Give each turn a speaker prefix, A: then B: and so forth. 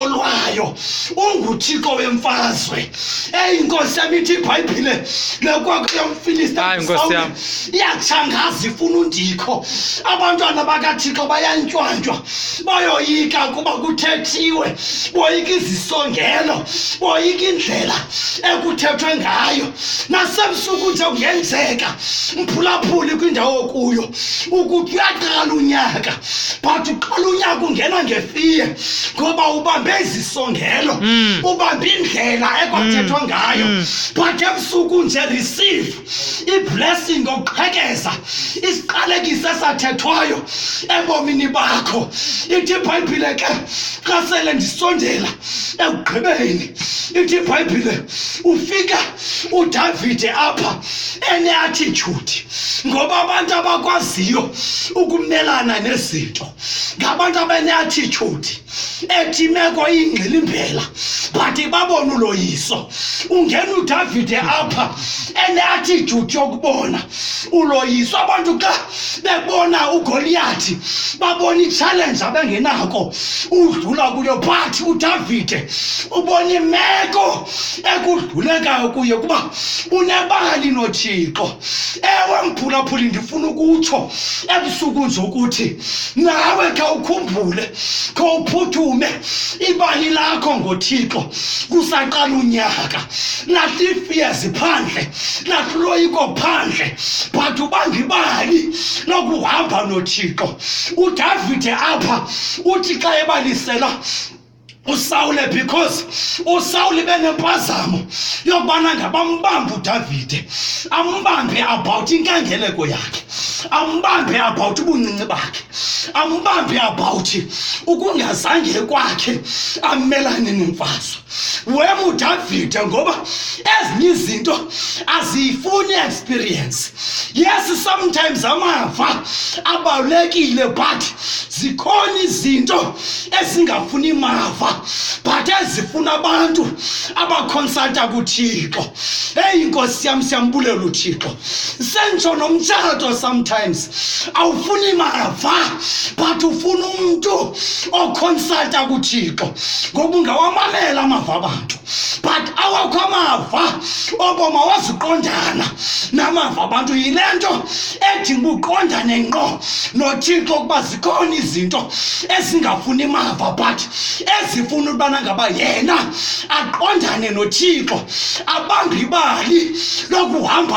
A: olwayo unguthixo wemfazwe eyi nkosi yam ithi ibhayibhile lekwakho yomfilista iyatshangaza ifuna undikho abantwana bakathixo bayantywantwa bayoyika kuba kuthethiwe boyika izisongelo boyika indlela ekuthethwe ngayo nasebusuku nje kungenzeka mphulaphuli kwindawo okuyo ukuthi uyaqala unyaka but uqala unyaka ungena ngefiye ngoba ubambe izisongelo mm. ubambe indlela ekwathethwa mm. ngayo mm. but ebusuku nje receive iblessing okuqhekeza isiqalekiso esathethwayo ebomini bakho ithi ibhayibhile ke xa sele ndisondela ekugqibeni ithi ibhayibhile ufika udavide apha eneathithude ngoba abantu abakwaziyo ukumelana nezinto ngabantu abaneattitude ethi imeko iyingxilimbela but babona uloyiso ungena udavide apha eneattitude yokubona uloyiso abantu xa bebona ugoliyathi babona itshalenje abengenako udlula kuyo but udavide ubona imeko ekudlulekayo kuye kuba unebali nothixo ewe mphulaphuli ndifuna ukutsho ebusuku nje ukuthi nawe khawukhumbule khawuphuthume ibali lakho ngothixo kusaqala unyaka lahlifiyezi phandle lahluloyiko phandle but ubangibali lokuhamba nothixo udavide apha uthi xa ebalisela usawule because usawule benempazamo yokubana ngabambambe udavide ambambe about inkangeleko yakhe ambambe about ubuncinci bakhe ambambe about ukungazange kwakhe amelane nemfazwe wemudavide ngoba ezinye izinto aziyifuni experience yes sometimes amava abalulekile but zikhona izinto ezingafuni mava but ezifuna abantu abakhonsalta kuthixo eyi inkosi yam siyambulela uthixo sentsho nomtshato sometimes awufuni mava but ufuna umntu okhonsalta kuthixo ngoba ungawamamela amava abantu but awakho amava obomi awazuqondana namava abantu yile nto edinga uqondane ngqo nothixo ukuba zikhona izinto ezingafuni mava but ezifuna ukubana ngaba yena aqondane nothixo abambe ibali lokuhamba